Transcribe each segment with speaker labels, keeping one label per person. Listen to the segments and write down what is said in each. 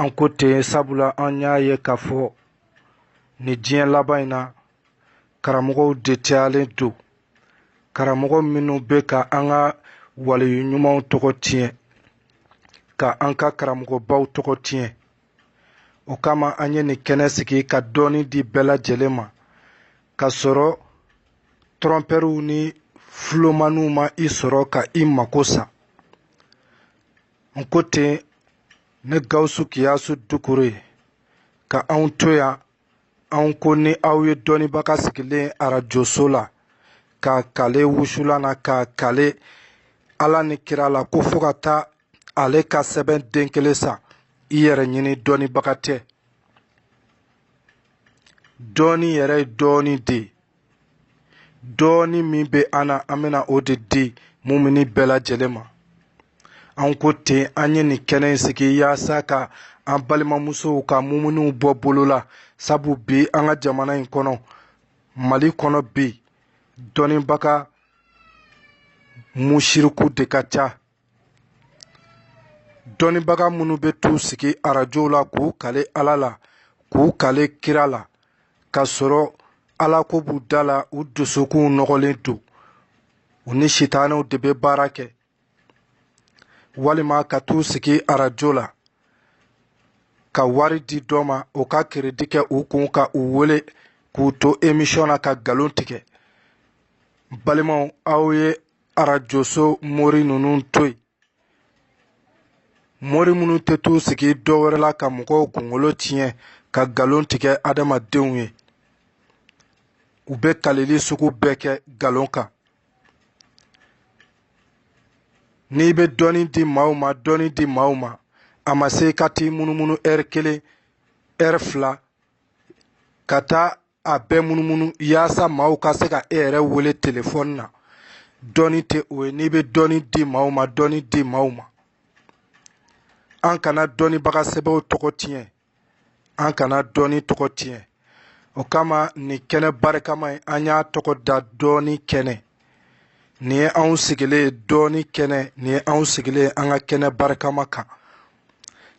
Speaker 1: an ko ten sabula an y'a ye k'a fɔ nin diɲɛ laban in na karamɔgɔw de cayalen don karamɔgɔ minnu bɛ ka an ka waleyu ɲumanw tɔgɔ tiɲɛ ka an ka karamɔgɔbaw tɔgɔ tiɲɛ o kama an ye nin kɛnɛ sigi ka dɔɔni di bɛɛ lajɛlen ma ka sɔrɔ tɔrɔnpɛriw ni fulomaniw ma i sɔrɔ ka i mako sa n ko ten ne gawusu kiyasu dukure ka anw to yan anw ko ni aw ye dɔnnibaga sigilen arajoso la k'a kale wusulan na k'a kale ala ni kira la ko fo ka taa ale ka sɛbɛn den kelen san i yɛrɛ ɲini dɔnnibaga tɛ dɔɔni yɛrɛ ye dɔɔni de ye dɔɔni min bɛ an na an bɛna o de di mumini bɛɛ lajɛlen ma an ko ten an ye nin kɛnɛ in sigi yaasa ka an balimamusow ka muminiw bɔ bolo la sabu bi an ka jamana in kɔnɔ mali kɔnɔ bi dɔnnibaga musiriku de ka ca dɔnnibaga minnu bɛ t'u sigi arajow la k'u kale ala la k'u kale kira la ka sɔrɔ ala ko b'u da la u dusukunw nɔgɔlen don u ni sitanɛw de bɛ baara kɛ walima ka t'u sigi arajo la ka wari di dɔ ma o ka keredi kɛ u kun ka u wele k'u to emisiyɔn na ka nkalon tigɛ balimaw aw ye arajoso mori ninnu to yen mori minnu tɛ t'u sigi dɔ wɛrɛ la ka mɔgɔw kunkolo tiɲɛ ka nkalon tigɛ adamadenw ye u bɛ kaleli sugu bɛɛ kɛ nkalon kan n'i bɛ dɔɔni di maaw ma dɔɔni di maaw ma a ma se ka t'i munumunu ɛri kelen ɛri fila ka taa a bɛɛ munumunu yaasa maaw ka se ka e yɛrɛ wele telefɔni na dɔɔni tɛ o ye n'i bɛ dɔɔni di maaw ma dɔɔni di maaw ma an kana dɔnnibaga sɛbɛw tɔgɔ tiɲɛ an kana dɔɔni tɔgɔ tiɲɛ o kama nin kɛnɛ barikama in an y'a tɔgɔ da dɔɔni kɛnɛ nin ye anw sigilen ye dɔɔni kɛnɛ nin ye anw sigilen ye an ka kɛnɛ barikama kan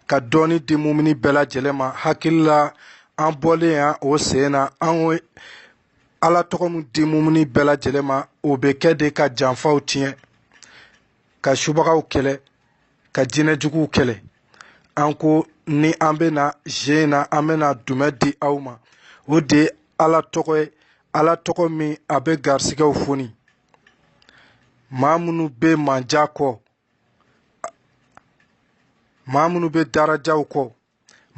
Speaker 1: ka dɔɔni di mumini bɛɛ lajɛlen ma hakili la an bɔlen yan o sen na an ye ala tɔgɔ min di mumini bɛɛ lajɛlen ma o bɛ kɛ de ka janfaw tiɲɛ ka subagaw kɛlɛ ka jinɛjuguw kɛlɛ an ko ni an bɛ na zen na an bɛ na dɛmɛ di aw ma o de ye ala tɔgɔ ye ala tɔgɔ min a bɛ garisigɛw foni maa minnu bɛ manja kɔ maa minnu bɛ darajaw kɔ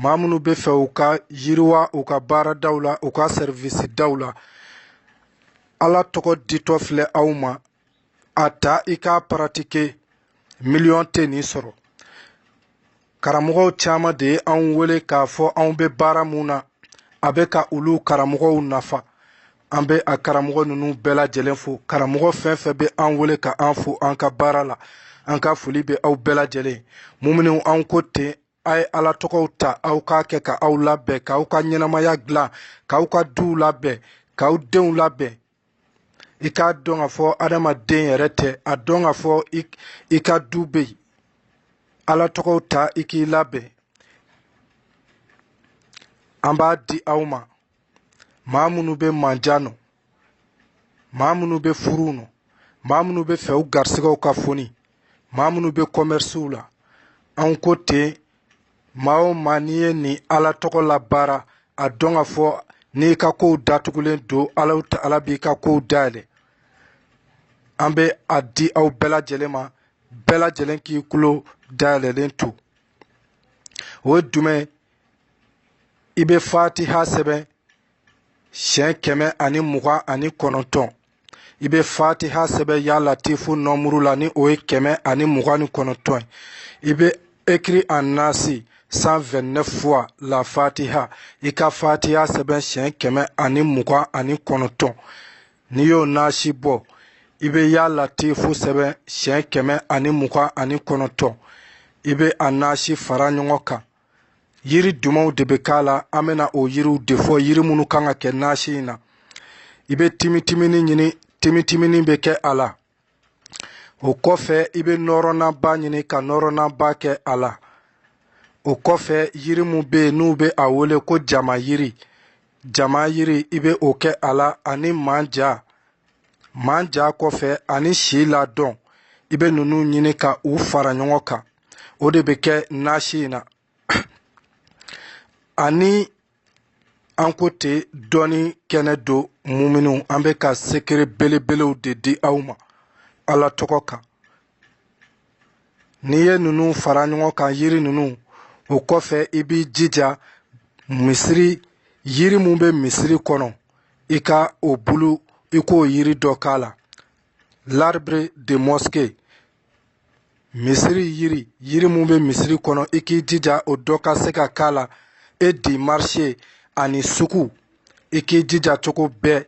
Speaker 1: maa minnu bɛ fɛ u ka yiriwa u ka baaradaw la u ka sɛriwisi daw la ala tɔgɔ ditɔ filɛ aw ma a ta i k'a paratike miliyɔn tɛ nin sɔrɔ karamɔgɔw caman de ye anw wele k'a fɔ anw bɛ baara min na a bɛ ka olu karamɔgɔw nafa an bɛ a karamɔgɔ ninnu bɛɛ lajɛlen fo karamɔgɔ fɛn fɛn bɛ an wele ka an fo an ka baara la an ka foli bɛ aw bɛɛ lajɛlen muminiw an ko ten a ye ala tɔgɔw ta aw k'a kɛ ka aw labɛn k'aw ka ɲɛnamaya dilan k'aw ka duw labɛn k'aw denw labɛn i k'a dɔn k'a fɔ adamaden yɛrɛ tɛ a dɔn k'a fɔ i ka du bɛ yen ala tɔgɔw ta i k'i labɛn an b'a di aw ma maa minnu bɛ manja nɔ maa minnu bɛ furu nɔ maa minnu bɛ fɛ u garisigɛw ka foni maa minnu bɛ kɔmɛrisiw la anw ko ten maa o maa n'i ye nin ala tɔgɔ labaara a dɔn k'a fɔ n'i ka kow datugulen don ala b'i ka kow dayɛlɛ an bɛ a di aw bɛɛ lajɛlen ma bɛɛ lajɛlen k'i kulo dayɛlɛlen to o ye jumɛn i bɛ fatiha sɛbɛn siɲɛ kɛmɛ ani mugan ani kɔnɔntɔn i bɛ fatiha sɛbɛn ya latifu nɔmuru la ni o ye kɛmɛ ani mugan ni kɔnɔntɔn ye i bɛ écrire en nasi cent vingt-neuf fois la fatiha i ka fatiha sɛbɛn siyɛn kɛmɛ ani mugan ani kɔnɔntɔn n'i y'o nasi bɔ i bɛ ya latifu sɛbɛn siyɛn kɛmɛ ani mugan ani kɔnɔntɔn i bɛ a nasi fara ɲɔgɔn kan yiri dumanw de bɛ k'a la an bɛna o yiriw de fɔ yiri minnu kan ka kɛ nasi in na i bɛ timitimini ɲini timitimini bɛ kɛ a la o kɔfɛ i bɛ nɔrɔnaba ɲini ka nɔrɔnaba kɛ a la o kɔfɛ yiri min bɛ yen n'u bɛ a wele ko jama yiri jama yiri i bɛ o kɛ a la ani manja manja kɔfɛ ani si ladɔn i bɛ ninnu ɲini ka u fara ɲɔgɔn kan o de bɛ kɛ nasi in na ani an ko ten dɔnni kɛnɛ don muminuw an bɛ ka sekere belebelew de di aw ma ala tɔgɔ kan n'i ye ninnu fara ɲɔgɔn kan yiri ninnu o kɔfɛ i b'i jija misiri yiri min bɛ misiri kɔnɔ i ka o bulu i k'o yiri dɔ k'a la l'arbre de mosquée misiri yiri yiri min bɛ misiri kɔnɔ i k'i jija o dɔ ka se ka k'a la e di marché ani sugu i k'i jija cogo bɛɛ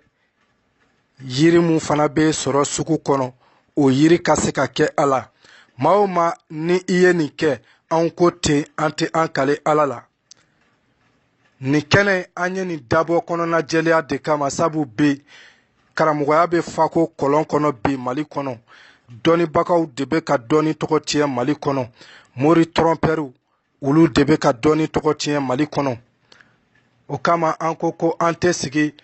Speaker 1: yiri min fana bɛ sɔrɔ sugu kɔnɔ o yiri ka se ka kɛ a la maa o maa ni i ye nin kɛ anw ko ten an tɛ an kale ala la nin kɛnɛ an ye nin dabɔ kɔnɔna jɛlenya de kama sabu bi karamɔgɔya bɛ fako kɔlɔn kɔnɔ bi mali kɔnɔ dɔnnibagaw de bɛ ka dɔnni tɔgɔ tiɲɛ mali kɔnɔ mori tɔrɔnpɛriw olu de bɛ ka dɔnni tɔgɔ tiɲɛ mali kɔnɔ o kama an ko ko an tɛ sigi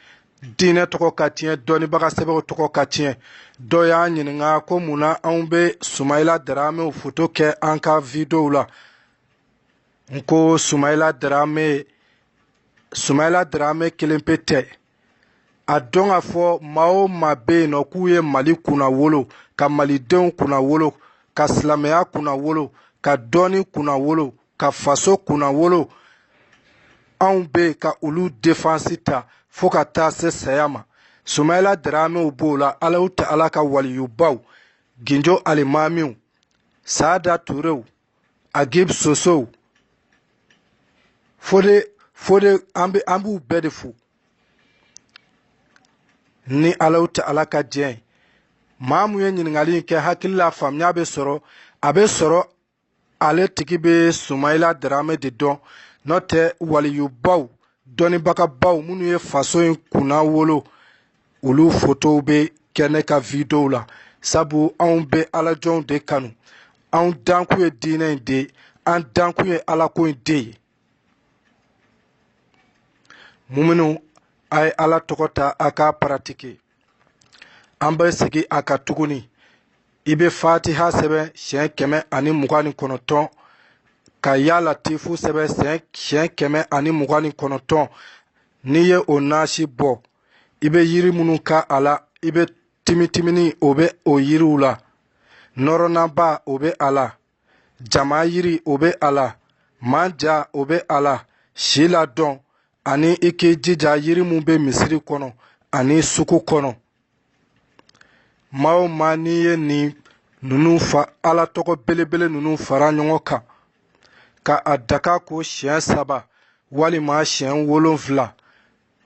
Speaker 1: diinɛ tɔgɔ ka tiɲɛ dɔnnibaga sɛbɛw tɔgɔ ka tiɲɛ dɔ y'an ɲininka ko mun na anw bɛ sumayila daramew foto kɛ an ka videow la n ko sumayila darame kelen pe tɛ a dɔn k'a fɔ maa o maa bɛ yen nɔ k'u ye mali kunna wolo ka malidenw kunna wolo ka silamɛya kunna wolo ka dɔnni kunna wolo ka faso kunna wolo anw bɛ yen ka olu defansi ta fo ka taa se saya ma sumayila daramew b'o la alahu ta'ala ka waliyubaw ginjo alimamiw saada turew agib sosow fo de fo de an bɛ an b'u bɛɛ de fo ni alahu ta'ala ka diɲɛ ye maa mun ye ɲininkali in kɛ hakili la faamuya bɛ sɔrɔ a bɛ sɔrɔ ale tigi bɛ sumayila darame de dɔn n'o tɛ waliyubaw dɔnnibagabaw minnu ye faso in kunna wolo olu fotow bɛ kɛ ne ka videow la sabu anw bɛ alajɔnw de kanu anw dankun ye diinɛ in de an dankun ye alako in de ye muminu a ye ala tɔgɔ ta a k'a paratike an bɛ segin a kan tuguni i bɛ fatiha sɛbɛn siɲɛ kɛmɛ ani mugan ni kɔnɔntɔn ka ya latifu sɛbɛn siɲɛ kɛmɛ ani mugan ni kɔnɔntɔn n'i ye o nasi bɔ i bɛ yiri minnu ka a la i bɛ timitimini o bɛ o yiriw la nɔrɔnaba o bɛ a la jama yiri o bɛ a la manja o bɛ a la si ladɔn ani i k'i jija yiri min bɛ misiri kɔnɔ ani sugu kɔnɔ maa o maa n'i ye nin ninnu fa ala tɔgɔ belebele ninnu fara ɲɔgɔn kan ka a daga ko siɲɛ saba walima siɲɛ wolonfila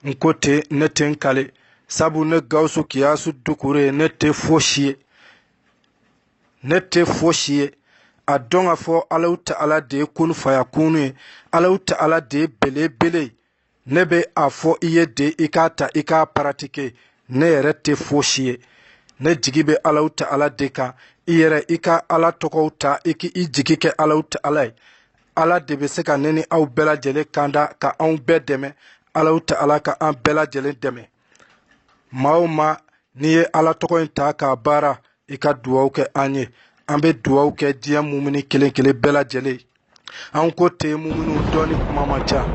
Speaker 1: n ko ten ne tɛ n kale sabu ne gawusu kiyasu dukure ne tɛ fosi ye ne tɛ fosi ye a dɔn k'a fɔ alahu taala de ye kun fayakunu ye alahu taala de ye belebele ye ne bɛ a fɔ i ye de i k'a ta i k'a paratike ne yɛrɛ tɛ fosi ye ne jigi bɛ alahu taala de kan i yɛrɛ i ka ala tɔgɔw ta i k'i jigi kɛ alahu taala ye ala de bɛ se ka ne ni aw bɛɛ lajɛlen kanda ka anw bɛɛ dɛmɛ alahu taala ka an bɛɛ lajɛlen dɛmɛ maa o maa n'i ye ala tɔgɔ in ta k'a baara i ka duwaw kɛ an ye an bɛ duwaw kɛ diɲɛ mumuni kelen kelen bɛɛ lajɛlen an ko ten mumuniw dɔɔni kuma man ca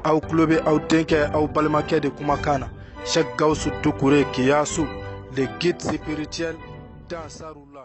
Speaker 1: aw tulo bɛ aw denkɛ aw balimakɛ de kumakan na sɛk gawusu dukure kiyasu le guide spirituel d'ansarula